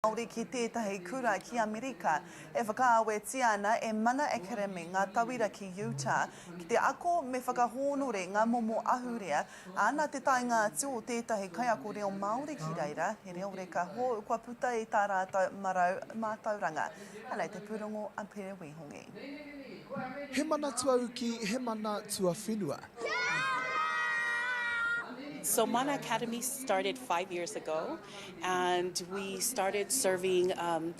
Māori ki tētahi kura ki Amerika e whakaawetia ana e Mana Academy ngā tauira ki Utah ki te ako me whakahōnore ngā momo ahurea, ā, nā te taenga atu o tētahi kaiako reo Māori ki reira, he reo reka hou kua puta i tā rātou marau mātauranga. Anei te pūrongo a Pere Wihongi. He mana tuauki, he mana tuawhenua. So Mana Academy started five years ago. and we started serving um,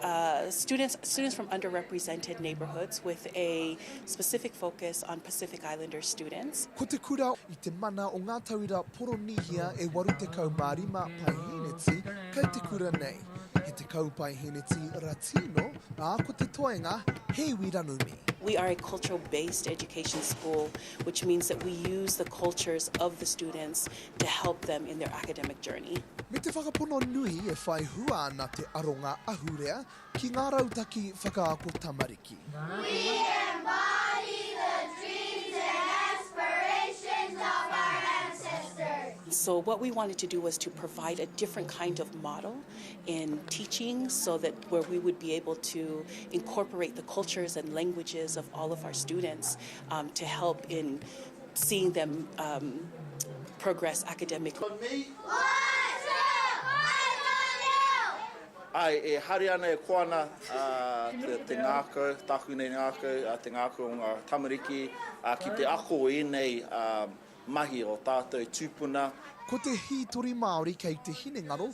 uh, students students from underrepresented neighbourhoods with a specific focus on Pacific Islander students. Ko te kura i te mana o ngā tauira Poronīhia e 85 paihēneti kai te kura nei. He te kaupai hēneti Ratino, ā ko te toenga he iwi ranumi. We are a cultural based education school, which means that we use the cultures of the students to help them in their academic journey. Me te whakapono nui e whai hua ana te aronga ahurea ki ngā rautaki whakaako tamariki. We embody the dreams and aspirations of our ancestors. So what we wanted to do was to provide a different kind of model in teaching so that where we would be able to incorporate the cultures and languages of all of our students um, to help in seeing them um progress academically. Ko nei. Ae, e haere ana e koa ana te ngakau, taku nei ngakau, te ngakau o nga tamariki ki te ako i enei mahi o tatou tupuna. Ko te hitori Maori kei te hinengaro